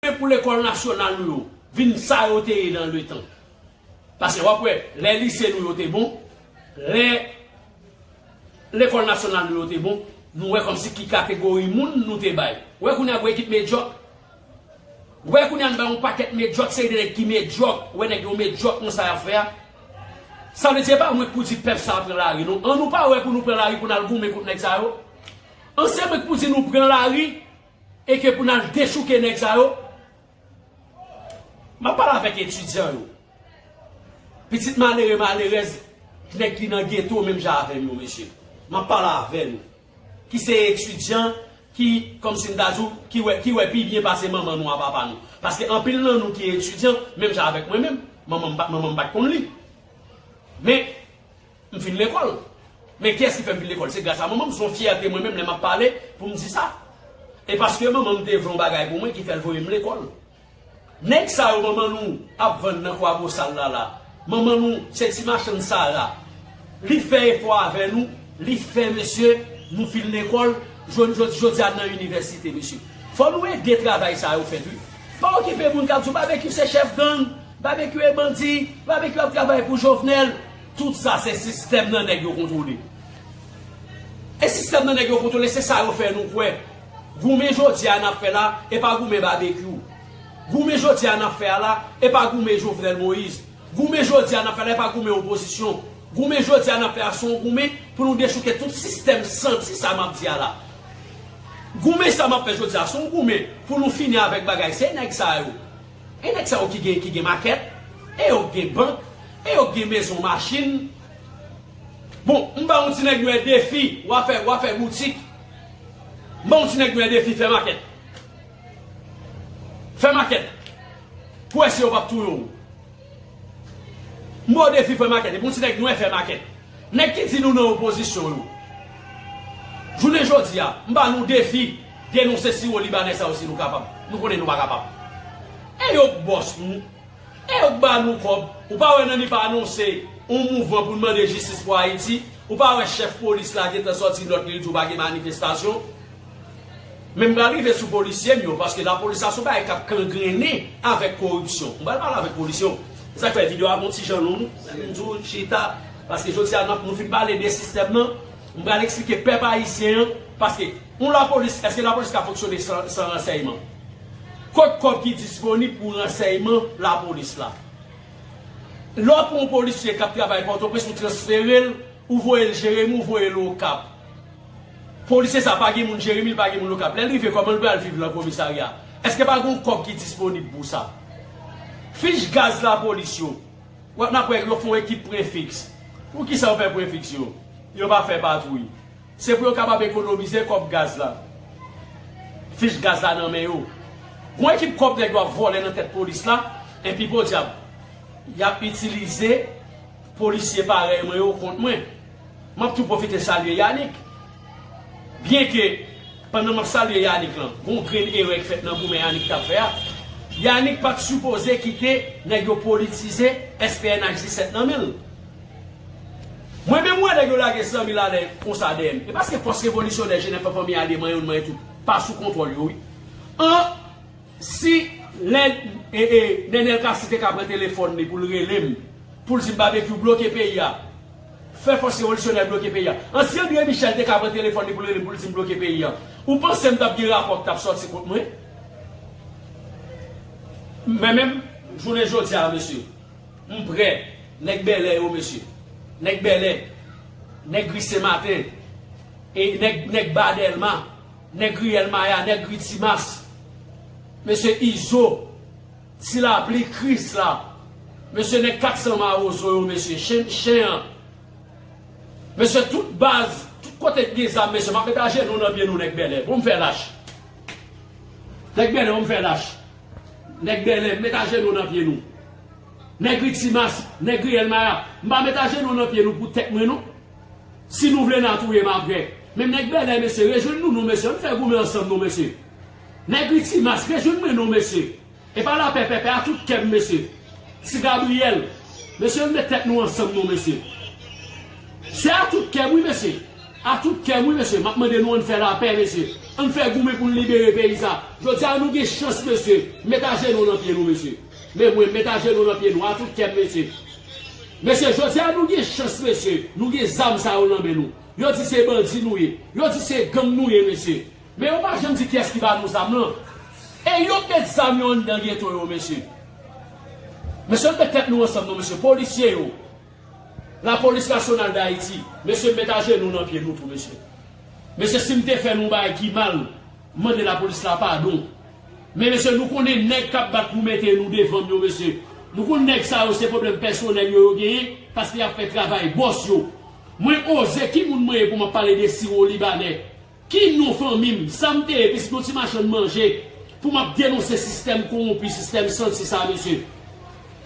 Mwen pou lekòl nasyonal nou yo vin sa yo te ye nan letan. Pase wap wè lè lise nou yo te bon, lè lekòl nasyonal nou yo te bon, nou wè kòmsi ki kategori moun nou te bay. Wè kounye a gwo ekip medyòk. Wè kounye a nou bay yon pakèt medyòk, seri de nèg ki medyòk, wè nèg yo medyòk nan sa yap fè a. Sa vle di e pa mwen ki pou di pèp sa a pran lari non. An nou pa wè pou nou pran lari pou nal goumen kont nèg sa yo. An se mwen ki pou di nou pran lari. E ke pou nal dechouke nèg sa yo. Map pale avèk etidyan yo. Pitit malere malerèz k nèk ki nan geto menm jan avèm yo mesye. Map pale avè nou. Ki se etidyan ki kòm si m ta di w ki wè ki wè pi byen pase manman nou a papa nou. Paske anpil nan nou ki etidyan menm jan avèk mwen menm. Manman m pat manman m pat konn li. Men. M fin lekòl. Men kiyès ki fè m fin lekòl? Se gras a manman m. Se yon fyète mwen menm lè m ap pale pou m di sa. E paske manman m te vle yon bagay pou mwen ki fè l voye m lekòl. Nèg sa yo manman nou ap vann nan Kwabosal la la. Manman nou se ti machann sara. Li fè efò avè nou. Li fè mesye nou fin lekòl jwenn jodi a nan inivèsite mesye. Fò nou ede travay sa yo fèt wi. Pa okipe moun k ap di w Babekyou se chèf gang. Babekyou e bandi. Babekyou ap travay pou Jovenel. Tout sa se sistèm nan nèg yo kontwole. E sistèm nan nèg yo kontwole se sa yo fè nou kwè. Goumen jodi a n ap fè la e pa goumen Babekyou. Goumen jodi a n ap fè a la e pa goumen Jovenel Moïse. Goumen jodi a n ap fè la e pa goumen opozisyon. Goumen jodi a n ap fè a se yon goumen pou nou dechouke tout sistèm santi sa m ap di a la. Goumen sa m ap fè jodi a se yon goumen pou nou fini avèk bagay se nèg sa yo. E nèg sa yo ki gen ki gen makèt, e yo k gen bank, e yo k gen mezon machin. Bon, m ba yon ti nèg nwè defi, wa fè wa fè boutik. M ba yon ti nèg nwè defi fè makèt. Fè makèt. Pou wè si yo pap touye w. M ba w defi fè makèt. Epi yon ti nèg nwè fè makèt. Nèg ki di nou nan opozisyon yo. Jounen jodi a, m ba nou defi. Denonse siwo libanè sa yo si nou kapab. Nou konnen nou pa kapab. E yo k bòs nou. E yo k ba nou kòb. Ou pa wè Nanip anonse yon mouvman pou n mande jistis pou Ayiti. Ou pa wè chèf polis la gentan sòti nòt li l di w pa gen manifestasyon. Men m pral rive sou polisye m yo paske lapolis la se yon bagay k ap kangrennen avèk koripsyon. M pral pale avèk polisye yo. Se sa k fè videyo a gon ti jan long. M di w chita paske jodi a n ap nou fin pale de sistèm nan. M pral eksplike pèp ayisyen an paske yon lapolis eske lapolis ka fonksyone san ransèyman? Kot kòb ki disponib pou ransèyman lapolis la? Lè w pran yon polisye k ap travay Pòtoprens ou transfere l ou voye l Jeremi ou voye l Okap polisye sa pa gen moun Jeremi li pa gen moun Okap lè l rive kòman l pral viv lan komisarya? Eske pa gen yon kòb ki disponib pou sa? Fich gaz lapolis yo. Wap nap wè yo fon ekip prefix. Pou kisa yo fè prefix yo? Yo pa fè patwouy. Se pou yo kapab ekonomize kòb gaz la. Fich gaz la nan men yo. Gon ekip kòb nèg yo ap vòlè nan tèt polis la, enpi podyab yap itilize polisye parèy mwen yo kont mwen. Map tou pwofite salye Yanick. Byenke. Pandan map salye Yanick lan gon grenn erè ki fèt nan goumen Yanick tap fè a Yanick pat sipoze kite nèg yo politize SPNH 17 nan menl Mwen menm wè nèg yo lage 100 mil alè konsa dèyè m e paske fòs revolisyonè jenèf lan fanmi Ade manyen youn manyen tout pa sou kontwòl yo wi an si lè Nenel Cassy te ka pran telefòn li poul relem poul dim Babekyou bloke peyi a Fè fòs revolisyonè bloke peyi a. Ansyen André Michel te ka pran telefòn li pou l rele m pou l di m bloke peyi a. Ou panse m t ap gen rapò k t ap sòti kont mwen? Men menm jounen jodi a mesye, m prè, nèg Bèlè yo mesye, nèg Bèlè, nèg ri Sen Maten, nèg Ba Dèlma, nèg riyèl Maya, nèg ri Timas, mesye Izo, Ti lapli kris la. Mesye nèg 400 marozo yo mesye chen chen an mesye tout baz tout kote ki gen zam mesye map met ajenou nan pye nou nèg bèlè bon fè lach nèg bèlè bon fè lach nèg bèlè m met ajenou nan pye nou nèg ri timas nèg ri elmaya m pa met ajenou nan pye nou pou tèt mwen non si nou vle na touye m aprè men nèg bèlè mesye rejwenn nou nou mesye ann fè goumen ansanm non mesye. Nèg li ti mas byen jwenn mwen non mesye epa lapè pèpè a tout kèm mesye ti Gabriel mesye ann met tèt nou ansanm non mesye se a tout kèm wi mesye a tout kèm wi mesye map mande nou ann fè lapè mesye ann fè goumen poun libere peyi sa jodia nou gen chans mesye met ajenou nan pye nou mesye men mwen met ajenou nan pye nou a tout kèm mesye mesye jodia nou gen chans mesye nou gen zam sa yo nan men nou yo di se bandi nou ye yo di se gang nou ye mesye Men yo pa janm di kiyès ki ba nou zam lan. E yo k met zam yo anndan geto yo mesye. Mesye ann met tèt nou ansanm non mesye polisye yo la polis nasyonal dayiti mesye met ajenou nan pye nou tou mesye. Mesye sim te fè nou bagay ki mal m mande la polis la padon. Men mesye nou konnen nèg kap bat pou mete nou devanm yo mesye. Nou konn nèg sa yo se pwoblèm pèsonèl yo yo genyen paske yap fè travay bòs yo. Mwen oze ki moun mwen ye pou map pale de siwo libanè Ki non fanmi m, sa m te ye piske yon ti machann manje pou m ap denonse sistèm kowonpi, sistèm santi sa mesye.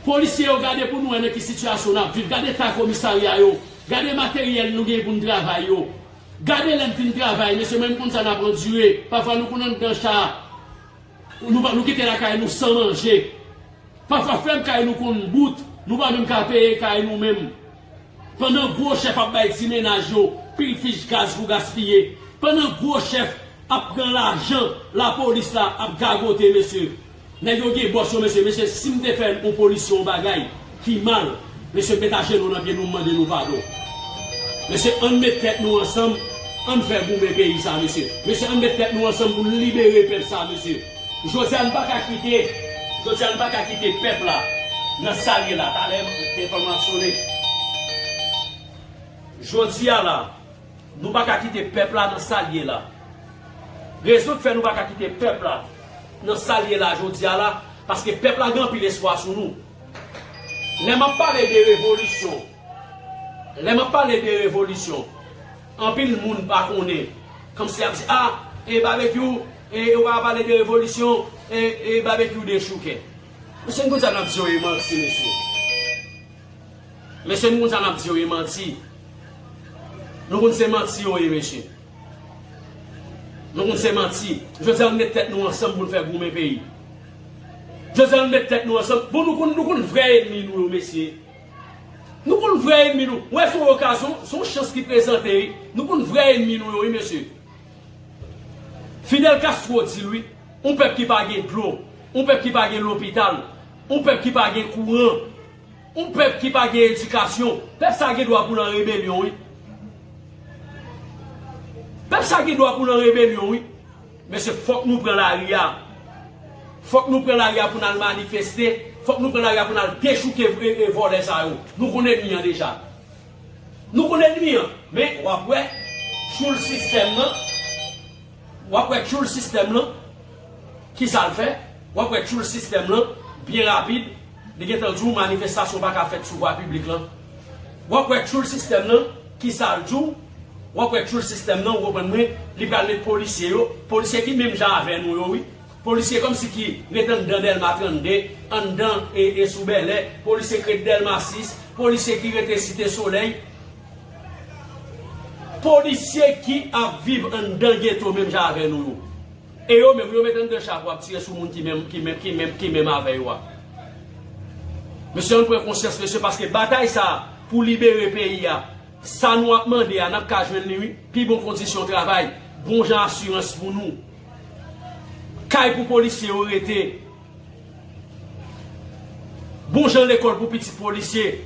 Polisye yo gade pou nou wè nan ki sitiyasyon n ap viv, gade eta komisarya yo, gade materyèl nou genyen pou n travay yo. Gade lè n fin travay mesye mwen m konn sa n ap andire, pafwa nou konn anndan cha a, nou kite lakay nou san manje. Pafwa fèm kay nou konn bout, nou pa menm ka peye kay nou menm. Pandan gwo chèf ap bay ti mennaj yo pil fich gaz pou gaspiye, pandan gwo chèf ap pran lajan lapolis la ap gagote mesye, nèg yo gen bòs yo mesye, mesye sim te fè yon polis yon bagay ki mal mesye met ajenou nan pye nou mande nou padon mesye ann met tèt nou ansanm ann fè goumen peyi sa mesye, mesye ann met tèt nou ansanm poun libere pèp sa mesye. Jodi a n pa ka kite Jodi a n pa ka kite pèp la nan sa l ye la Talè m telefòn mwen ap sone Jodi a la Nou pa ka kite pèp la nan sa l ye la Rezon k fè nou pa ka kite pèp la nan sa l ye la jodi a la Paske pèp la gen anpil espwa sou nou Lè m ap pale de revolisyon Lè m ap pale de revolisyon Anpil moun pa konnen Kòmsi y ap di a e babekyou E yo pa pale de revolisyon e babekyou dechoukè. Mesye nou konn sa nap di yo e manti mesye. Mesye nou konn sa nap di yo e manti. Nou konn se manti yo ye mesye. Nou konn se manti. Jodi an met tèt nou ansanm pou nou fè goumen peyi. Jodi an met tèt nou ansanm. Bon nou konn nou konn vrè enmi nou yo mesye. Nou konn vrè enmi nou. Wè son okazyon, son chans ki prezante wi. Nou konn vrè enmi nou yo wi mesye. Fidel Castro di l wi, yon pèp ki pa gen dlo, yon pèp ki pa gen lopital, yon pèp ki pa gen kouran, yon pèp ki pa gen edikasyon, pèp sa gen dwa pou l an rebelyon wi. Pèp sa gen dwa pou l an rebelyon wi. Mesye fòk nou pran lari a. Fòk nou pran lari a pou n al manifeste, fòk nou pran lari a pou n al dechouke vòlè sa yo. Nou konn enmi an deja. Nou konn enmi an men wap wè tchoul sistèm lan wap wè tchoul sistèm lan kisal fè wap wè tchoul sistèm lan byen rapid li gentan di w manifestasyon paka fèt sou vwa piblik lan wap wè tchoul sistèm lan kisal di w wap wè tchoul sistèm lan ou konprann mwen li pral met polisye yo polisye ki menm jan avè nou yo wi. Polisye komsi ki ret anndan delma 32, anndan e sou bèlè, polisye ki ret delma 6, polisye ki rete site solèy, polisye ki ap viv anndan geto menm jan avè nou yo, e yo menm yo met anndan cha pou ap tire sou moun ki menm avè yo a. Mesye ann pran konsyans mesye paske batay sa pou libere peyi a, sa nou ap mande a nap ka jwenn li wi, pi bon kondisyon travay, bon jan asirans pou nou. Kay pou polisye yo rete. Bon jan lekòl pou pitit polisye.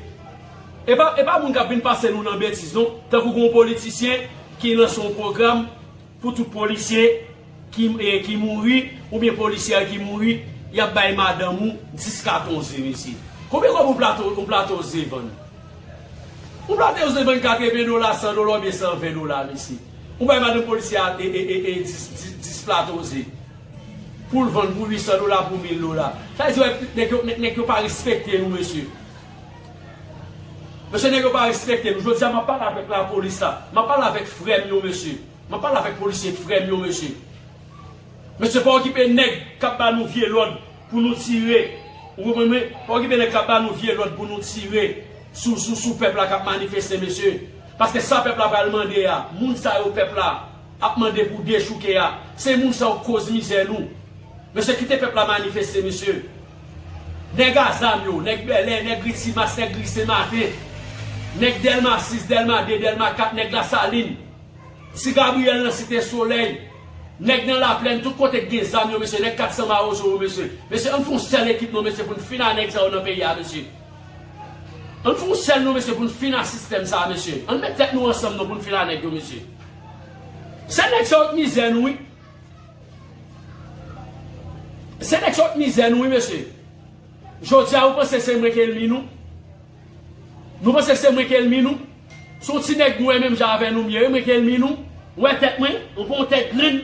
E pa moun k ap vin pase nou nan betiz non. Tankou gen yon politisyen ki lanse yon pwogram pou tout polisye ki mouri oubyen polisyè ki mouri, y ap bay madanm ou 10 katon ze mesye. Konbyen kòb yon plato ze vann? Yon plato ze vann 80 dola, 100 dola oubyen 120 dola mesye. Ou bay madan polisye a 10 plato ze poul vann pou 800 dola pou 1000 dola. Sa vle di wè nèg yo nèg yo pa respekte nou mesye. Mesye nèg yo pa respekte nou. Jodi a map pale avèk lapolis la. Map pale avèk frèm yo mesye. Map pale avèk polisye frèm yo mesye. Mesye pa okipe neg kap ba nou vye lod pou nou tire ou konprann mwen pa okipe neg kap ba nou vye lod pou nou tire sou sou sou pep la kap manifeste mesye paske sa pep la pral mande a moun sa yo pep la ap mande pou dechouke a se moun sa yo k koz mize nou mesye kite pep la manifeste mesye neg a zam yo neg bèlè neg ritimas neg ri senmaten neg delma 6 delma 2 delma 4 neg lasalin. Ti Gabriel nan site solèy. Nèg nan laplèn tout kote ki gen zam yo mesye nèg 400 mawozo yo mesye mesye ann fon sèl ekip non mesye poun fin a nèg sa yo nan peyi a mesye ann fon sèl non mesye poun fin a sistèm sa mesye ann met tèt nou ansanm non poun fin a nèg yo mesye se nèg sa yo k mizè nou wi se nèg sa yo k mizè nou wi mesye jodia ou panse se mwen ki elmi nou. Nou panse se mwen ki elmi nou? Se yon ti nèg nwè menm jan avè nou m ye wi mwen ki elmi nou. Ou wè tèt mwen? Ou pa yon tèt grenn?